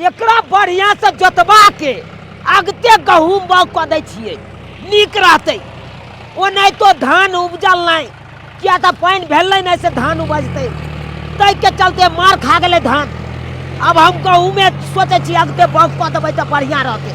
एकरा बढ़िया से जोतबा के अगते गहूम बाग कऽ दै छियै नीक रहतै ओनाहितो धान उपजल नहि किया तऽ पानि भेलै नहि से धान उपजतै ताहिके चलते मार खा गेलै धान आब हम गहूमे सोचै छी अगते बाग कऽ देबै तऽ बढ़िया रहतै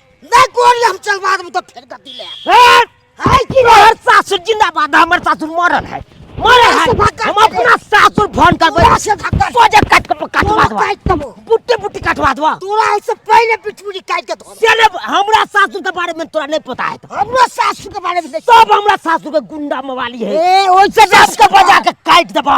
नहीं कोन हम चल बाद में तो फेर गति ले हैं? है कि हमार सासुर जिंदाबाद है, हमार सासुर मरल है मरल है से भाग हम अपना सासुर फोन कर तोरा से भाग कर। सोजा काट के काटवा तोरा दवा काट तबो बुट्टे बुट्टे काटवा दवा तोरा से पहले पिटपुरी काट के धो तेरे हमरा सासुर के बारे में तोरा नहीं पता है तो हमरा सासू के बारे में नहीं सब हमरा सासुर के गुंडा मवाली है ए ओइसे दस के बजा के काट दबा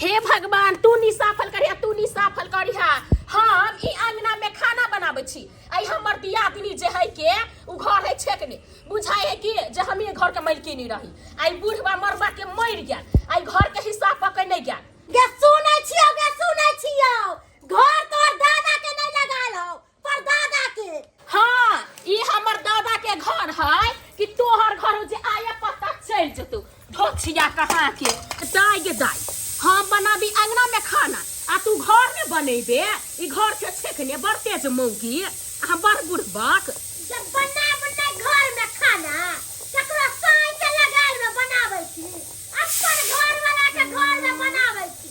हे भगवान तू नी साफल करिहा तू नी साफल करिहा हम ई अंगना में खाना बनाबै छी आई हमर दियादनी जे है के उ घर है छेकने बुझाय है कि जे हम ये घर के मलकिनी रही आई बूढ़वा मरबा के मर गया आई घर के हिस्सा पकड़ नहीं गया गे सुनै छियौ गे सुनै छियौ घर तोर दादा के नहीं लगाल हो पर दादा के हाँ ई हमर दादा के घर है कि तोहर घर जे आया पता चल जतू ढोछिया कहाँ के दाई गे दाई हम बनाबी अंगना में खाना आ तू घर में बनेबे ई घर के छेकने बड़ तेज मौगी आ बड़ बुढ़बक जब बना बना घर में खाना ककरो साई के लगाल में बनावे छी अपन घर वाला के घर में बनावे छी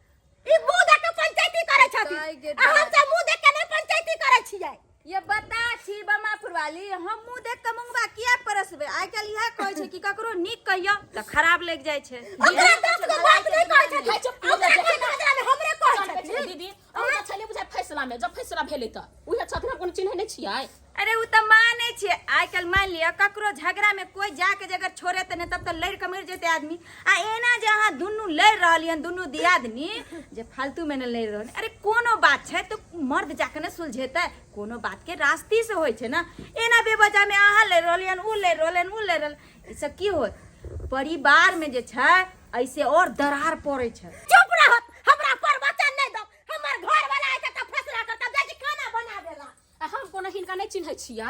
ई मुंह देख के पंचायती करे छथि सही के आ हम सब मुंह देख के नहीं पंचायती करे छियै ये बता छी बमा फुरवाली हम मुंह देख के मुंगवा किया परसबे आइ काल इहे कहै छै कि ककरो नीक कहियो त खराब लागि जाइ छै ओकरा सब के बात नहीं कहै छथि ओकरा के बदला में हमरे कहै छथि दीदी अहाँ छलियै बुझाइ फैसला में जब फैसला भेलै तऽ उहे छथिन हम कोनो चिन्है नहि छियै अरे उ त माने छे आइ काल्हि मान लिअ ककरो झगड़ा में कोई जाके जगह छोड़े त ने तब त लड़ के मर जेते आदमी आ एना जे अहाँ दुनू लड़ रहलियन दुनू दियादनी जे फालतू में ने लड़ रहल अरे कोनो बात छै तो मर्द जाके ने सुलझेते कोनो बात के रास्ती से होइ छै ना एना बेवजह में अहाँ लड़ रहलियन उ लड़ रहलन उ लड़ रहल ई सब की होत परिवार में जे छै ऐसे और दरार पड़े छै चुप रहत हमरा पर वचन नहीं दो हमर घर वाला ऐसे तो फैसला करता बेटी खाना बना देला आ हम कोनो हिनका नहीं चिन्है छियै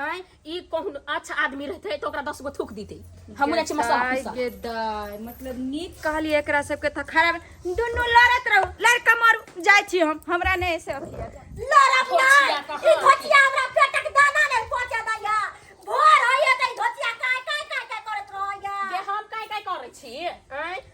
आय ई कहून अच्छा आदमी रहते तो ओकरा दस गो थूक दीते हमहूँ जाइ छी मसाला गेदाय, पीसऽ। गेदाय, मतलब नीक कहलियै एकरा सबके तऽ खराब दुनू लड़त रहू लड़का मारू जाइ छी हम हमरा नहि से अथी यऽ। लड़ब घोचिया नहीं कहाँ ई घोचिया हमरा पेटक दाना नहीं पहुंचा दैया भोर होइए तऽ ई घोचिया काय काय काय काय करत रहैया जे हम काय काय करै छी आय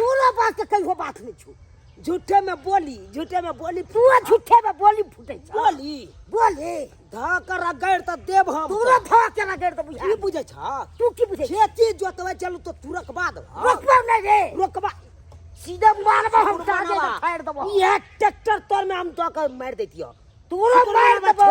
कोनो बात के कहियो बात नहीं छो झूठे में बोली झूठे में बोली तू झूठे में बोली फूटे छ बोली बोले धा कर रगड़ त देब हम तू रे धा के रगड़ त बुझा की बुझे छ तू की बुझे खेती जोतवे चलू तो तू रखबा दे रोकबा नहीं रे रोकबा सीधा मारबा हम जाके फाड़ देबो ये ट्रैक्टर तोर में हम तो कर मार देतियो तू रे मार देबो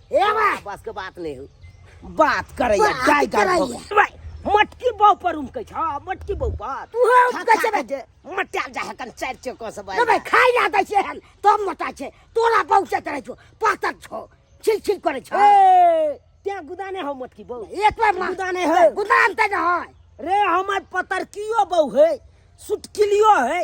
हे भाई बस के बात नहीं हो बात करे या बात गाय गाय करैया। भोग। भाई मटकी बाव पर उम कह छ मटकी बाव पर तू है उम कह छे जे मटिया जा हकन चार चको से भाई ना भाई खाई ना दै छै हन तो मोटा छै तोरा बहु से करे छो पातर छो छिल छिल करे छो ए त्या गुदाने हो मटकी बाव एक बार मार गुदा नहीं है। गुदान ते न है रे हमर पतरकियो बाव है सुटकिलियो है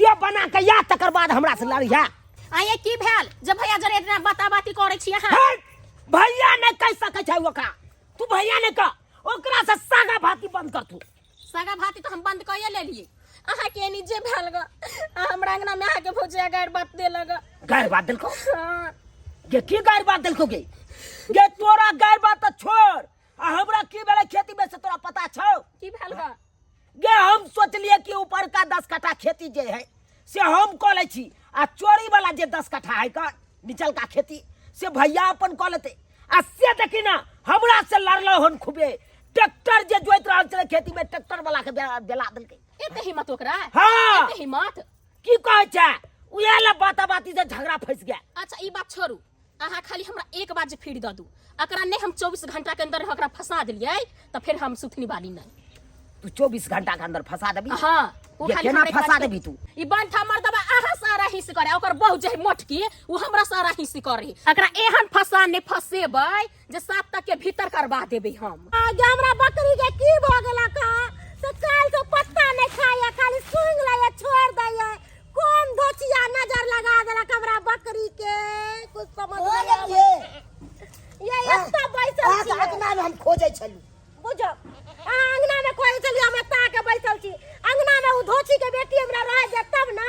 दे बना के या तकर बाद हमरा से लड़िया आ ये की भेल जे भैया जरे इतना बाता बाती करे छी अहाँ हे, भैया ने कह सके छै ओकरा तू भैया ने कह ओकरा से सागा भाती बंद कर तू सगा भाती तो हम बंद कइए लेलिए अहाँ के एनी जे भेल ग आ हमरा अंगना में अहाँ के भौजिया गाड़ बात दे लग गैर बात दिल को हाँ ये की गैर बात दिल को गे ये तोरा गैर बात तो छोड़ आ हमरा की भेलै खेती में से तोरा पता छौ की भेल गा गे हम सोचलिए कि ऊपर का दस कट्ठा खेती जे है से हम कऽ लै छी आ चोरी वाला जे दस कट्ठा है का निचल का खेती से भैया अपन कऽ लेते आ से देखी ना हमरा से लड़लो हन खूबे ट्रैक्टर जे जोइत रहल छलै खेती में ट्रैक्टर वाला के बेला बेला देलकै एते हिम्मत ओकरा हाँ। एते हिम्मत की कहै छै उहे ले बाता बाती से झगड़ा फंस गया अच्छा ई बात छोड़ू अहाँ खाली हमरा एक बार जे फेर दऽ दू अकरा नहि हम चौबीस घंटा के अंदर अकरा फंसा देलियै तऽ फेर हम सुथनी वाली नहि तू चौबीस घंटा के अंदर फंसा देबी हाँ ओ ये खाली केना हमरा एक बार फंसा के- देबी तू? ई बंठा मर्दबा अहाँ सारा हिस करे ओकर बहुत जे मोटकी ओ हमरा सारा हिस करे अकरा एहन फंसा नहि फंसेबै जे सात तक के भीतर करवा देबे हम आगे हमरा बकरी के की भ गेला का से काल से पत्ता नहीं खाया खाली सूंघ लया छोड़ दया कौन धोचिया नजर लगा देला हमरा बकरी के कुछ समझ हो नहीं गेल ये आवे। ये एकटा बैसल अहाँ के छियै। अंगना में हम खोजै छलू बुझो अहाँ अंगना में कोई चली हम एता के बैसल छी अंगना में उ धोची के बेटी हमरा रह जाय तब ना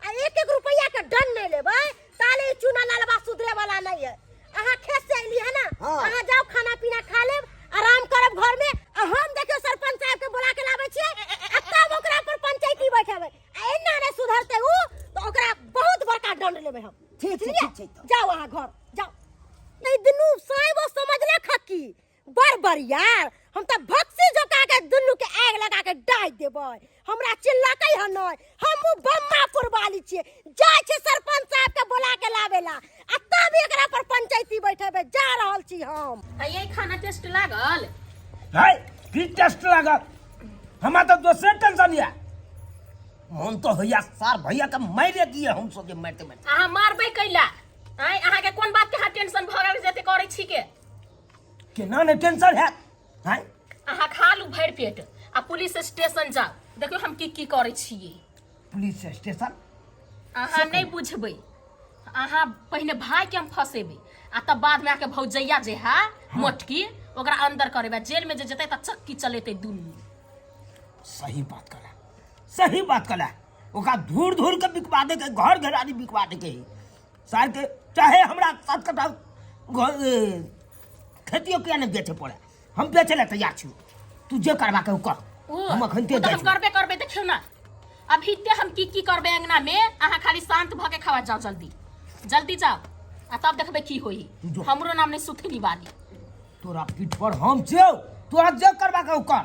आ एक एक रुपया के दंड नहीं लेबे ताले ई चूना लालबा सुधरे वाला नहीं है अहाँ खेत से अइली है ना हाँ। अहाँ जाओ खाना पीना खा लेब आराम करब घर में आ हम देखियो सरपंच साहब के बुला के लाबै छियै आ तब ओकरा पर पंचायती बैठेबै आ एना ने सुधरते उ तो ओकरा बहुत बड़का दंड लेबै हम ठीक छै, बुझलियै? ठीक छै तऽ। जाओ अहाँ घर जाओ नहीं दुनू साहेब समझले खक्की बड़ बड़ यार हम त भक्सी जोका के दुनु के आग लगा के डाल देबै हमरा चिल्लाकै ह नै हमहु बम्मा पुरवाली छिए जाय छै सरपंच साहब के बोला के लावेला आ तब एकरा पर पंचायती बैठेबे जा रहल छी हम ये खाना टेस्ट लागल है की टेस्ट लागल हमरा तो दोसरे टेंशन या मन तो होइया सार भैया के मारे दिए हम सोचे मारते मारते अहाँ मारबै कैला आँय अहाँके कोन बात के अहाँ टेंशन भऽ गेल जते करै छी के केना ने टेंशन है हैं अहाँ खा लू भरि पेट आ पुलिस स्टेशन जाओ देखियौ हम की की करै छियै पुलिस स्टेशन अहाँ नहि बुझबै अहाँ पहिने भायके हम फँसेबै आ तब बादमे आके भौजैया जे है मोटकी ओकरा अंदर करेबै जेलमे जे जेतै तऽ चक्की चलेतै दुनू सही बात कला सही बात कला ओकरा धूर धूर के बिकवा दे के घर घरानी बिकवा दे के है सार के चाहे हमरा सात कटा घर- ए, खेतियो किया नहि बेचे पड़े हम बेचे लए तैयार छी तू जे करबा के ओ कर ओ, हम अखन ओ ते तऽ हम करबे करबे देखियौ ने अभी ते हम की की करबे अंगना में अहाँ खाली शांत भऽ के खावा जाओ जल्दी जल्दी जाओ आ तब देखबे की होई जो। हमरो नाम ने सुथनी वाली तोरा पीठ पर हम छौ तोरा जे करबा के ओ कर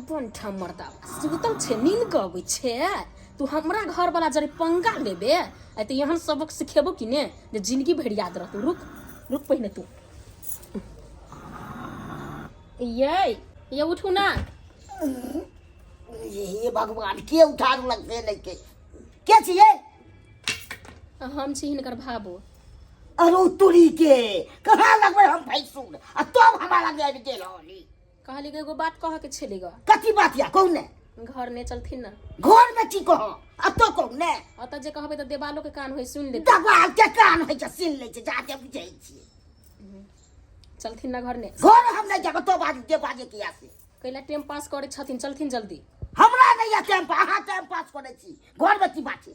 अपन ठा मर्दा सुतल छे नींद के अबै छे तू हमरा घर वाला जरे पंगा लेबे आ त एहन सबक सिखेबो कि ने जे जिंदगी भर याद रहतौ रुक रुक पहिने तू ये ये उठू ना हे भगवान के उठा देलक से नहीं के के छिए आ हम छी हिनकर भाबो अरे तुरी के कहाँ लगबे हम भैंसुर आ तब हमारा गैर गेल होली कहली कि एगो बात कह के छेली ग कथी बात या कहू ने घर ने चलथिन ना घर में की कह अब तो कहू ने अत जे कहबे तो देवालो के कान होई सुन ले दबाल के कान होई छै सुन ले छै जाते बुझै छी चलथिन ना घर ने घर हम नहीं जाब तो बाज जे बाजे किया से कैला टाइम पास करे छथिन चलथिन जल्दी हमरा नहीं या टाइम पर अहाँ टाइम पास करै छी घर में की बात छै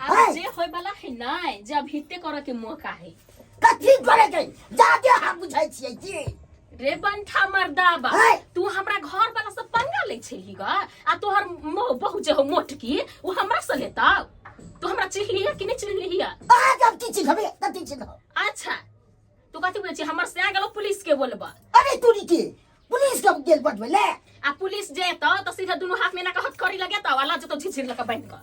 अब है। जे होय वाला है नहीं जे अब हिते करे के मौका है कथी करे के जादे हम बुझै छियै जी रे बंठा मर्दाबा है। तू हमरा घर वाला से पंगा ले छेली गा आ तोहर मो बहु जे हो मोटकी वो हमरा से लेता तू हमरा चिल्ली है कि नहीं चिल्ली है आ जब की चीज हबे कथी चीज हो अच्छा तू कथी बोले छी हमर से आ गेलो पुलिस के बोलबा अरे तू नी के पुलिस के गेल बटबे ले आ पुलिस जे तो तो सीधा दोनों हाथ में ना कहत करी लगे तो वाला जो तो झिझिर लगा बन का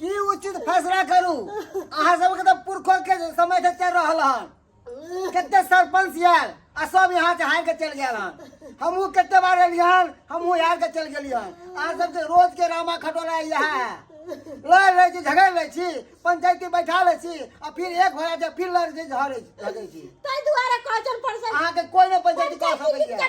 की उचित फैसला करू अहाँ सबके तऽ पुरखो के समय से चल रहल हन कते सरपंच यार आ सब यहाँ से हार के चल गया हन हमहू कते बार एलियै हन हमहू हार के चल गेलियै हन अहाँ सबके रोज के रामा खटोला इएह है लड़ लै छी झगड़ लै छी पंचायती बैठा लै छी आ फिर एक भए जाइ फिर लड़ छी झगड़ै छी झगड़ै छी ताहि दुआरे कहचन पड़सन अहाँके कोई नहि पंचायती कऽ सकैया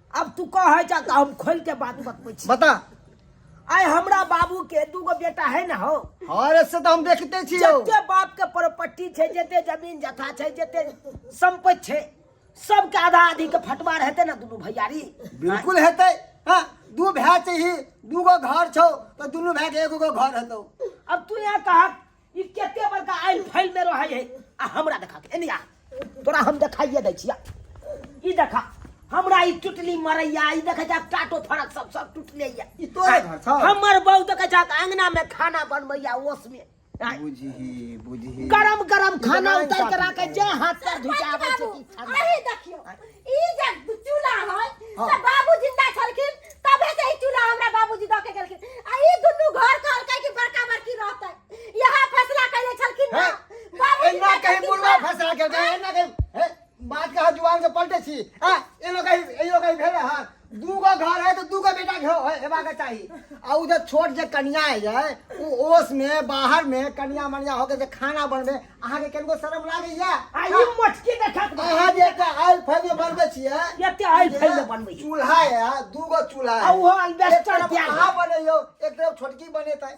अब तू कहे जा तो हम खोल के बात बतबै छी बता आय हमरा बाबू के दूगो बेटा है ना हो अरे से तो हम देखते छी हो जते बाप के प्रॉपर्टी छै जते जमीन जथा छै जते संपत्ति छै सबके आधा आधी के फटवार हेतै ना दुनू भैयारी बिल्कुल हेतै हाँ दू भाय चाहिए दूगो घर छौ तो दुनू भाय के एगो गो घर हेतौ अब तू यहाँ कहा ई केते बड़का आयल फैल में रहै है आ हमरा देखा के एनिया तोरा हम देखाइए दै छिया ई देखा हमरा ई टुटली मरैया ई देखै जा टाटो फरक सब सब टुटले या ई तोरे घर छौ हमर बहू देखै जा अंगना में खाना बनबैया ओस में आय, बुझही बुझही गरम गरम खाना उतार के राखे जे हाथ पर धिचाबै छै कि ठंडा। अरे देखियो ई जे चूल्हा है हाँ। त बाबू जिंदा छलखिन तबे से ई चूल्हा हमरा बाबूजी दऽ के गेलखिन आ ई दुनू घर कहलकै कि बड़का बड़की रहतै यहाँ फैसला कैले छलखिन ना हैं? बाबूजी एना दऽ कहीं देलखिन बुढ़वा ना। फंसा के गए एना कहीं हैं? बात कहा जुबान से पलटे छी हैं? एनो कहीं एनो कहीं भेले हां दूगो घर है तो दूगो बेटा हेबा के चाहिए आ उ जे छोट जे कन्या है उ ओस में बाहर में कन्या मनिया होके जे खाना बनबे अहाँ के केनको शर्म लागे या आई मटकी देखत अहाँ जे का आयल फैल में बनबे छिए एते आयल फैल में बनबे चूल्हा है दूगो चूल्हा है आ वो अलबेस्टर अहाँ बने यो एक तरफ छोटकी बने त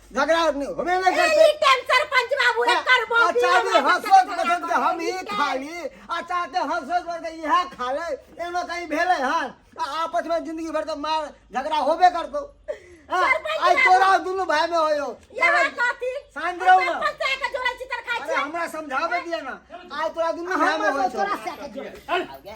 झगड़ा होबे नहीं करते ई टाइम सरपंच बाबू रे करबो अच्छा भी हंसो बसंत के हम ही खाली अच्छा ते हंसो बसंत के यह खा ले एनो कहीं भेले हन आपस में जिंदगी भर तो मार झगड़ा होबे करतो आई तोरा दुनु भाई में होयो यहां कथी सांझ रहो ना पंचायत का जोड़ा चितर खाई अरे हमरा समझावे दिया ना आई तोरा दुनु भाई में होयो तोरा से के जोड़ा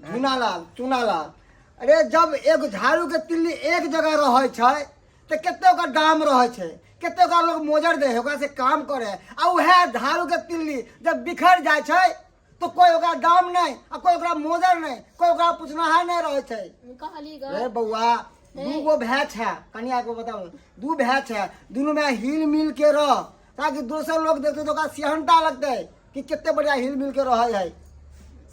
झुनालाल चुनालाल अरे जब एगो झाड़ू के तिल्ली एक जगह रहे छै तो कते ओकर दाम रहे छै कते ओकरा लोग मोजर दे ओकरा से काम करे आ उहे झाड़ू के तिल्ली जब बिखर जाए छै तो कोई ओकरा दाम नहीं आ कोई ओकरा मोजर नहीं कोई ओकरा पूछनाहार नहीं रहे छै कहली ग अरे बउआ दू गो भैच है कनिया को बताओ दू भैच है दोनों में हिल मिल के रह ताकि दोसर लोग देखते तो ओकरा सिहनता लगते कि कितने बढ़िया हिल मिल के रहे है हैं?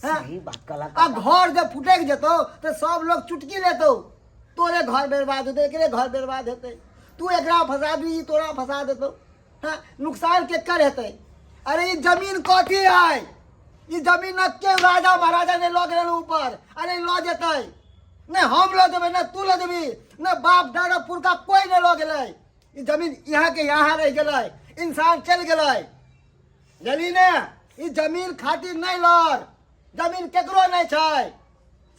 सही बात कला आ घर जब फुटक जेतो तो सब लोग चुटकी लेतो तोरे घर बर्बाद होते एकरे घर बर्बाद होते तू एकरा फंसा दी तोरा फंसा देतो हाँ नुकसान के कर हेते अरे ये जमीन कथी है ये जमीन न के राजा महाराजा ने लग रहे ऊपर अरे लऽ जेतै ने हम लऽ देबै ने तू लऽ देबी ने बाप दादा पुरखा कोई ने लऽ गेलै ई जमीन यहाँ के यहाँ रह गए इंसान चल गए जली ने ई जमीन खातिर नहीं लड़ जमीन केकरो नहीं छै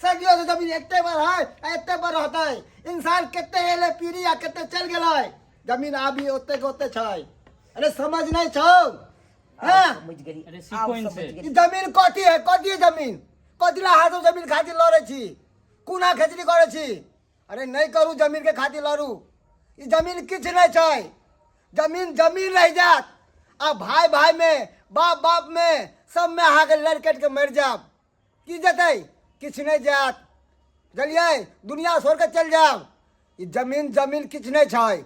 सदियों से जमीन एते बार है एते बार रहता है इंसान कितने एले पीढ़ी आ कितने चल गए जमीन अभी ओते के ओते छै अरे समझ नहीं छो हाँ समझ गई अरे सीखो इनसे ई जमीन कथी है कथी है जमीन कथी ला हाथों जमीन खातिर लड़े छी कुना खेचरी करे छी अरे नहीं करू जमीन के खातिर लड़ू ई जमीन किछ नहीं छै जमीन जमीन रह जात आ भाई भाई में बाप बाप में सब में अहाँ के लड़ कट के मर जाब की जतै किछ नहीं जात बुझलियै दुनिया छोड़ के चल जाब ई जमीन जमीन किछ नहीं छै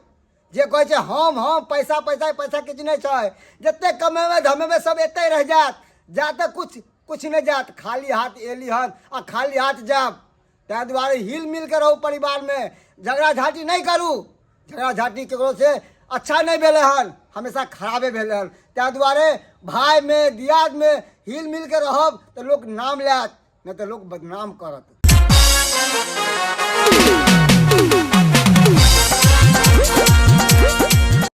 जे कहै छै हम हम पैसा पैसा पैसा किछ नहीं छै जते कमेबै धमेबै सब एते रह जात जाते कुछ कुछ नहीं जात खाली हाथ एली हन आ खाली हाथ जाब ताहि दुआरे हिल मिल के रहू परिवार में झगड़ा झाटी नहीं करू झगड़ा झाटी केकरो से अच्छा नहीं भेले हन हमेशा खराबे भेले हन ताहि दुआरे भाई में दियाद में हिल मिल के रहब तो लोग नाम लेत नहीं तो लोग बदनाम करत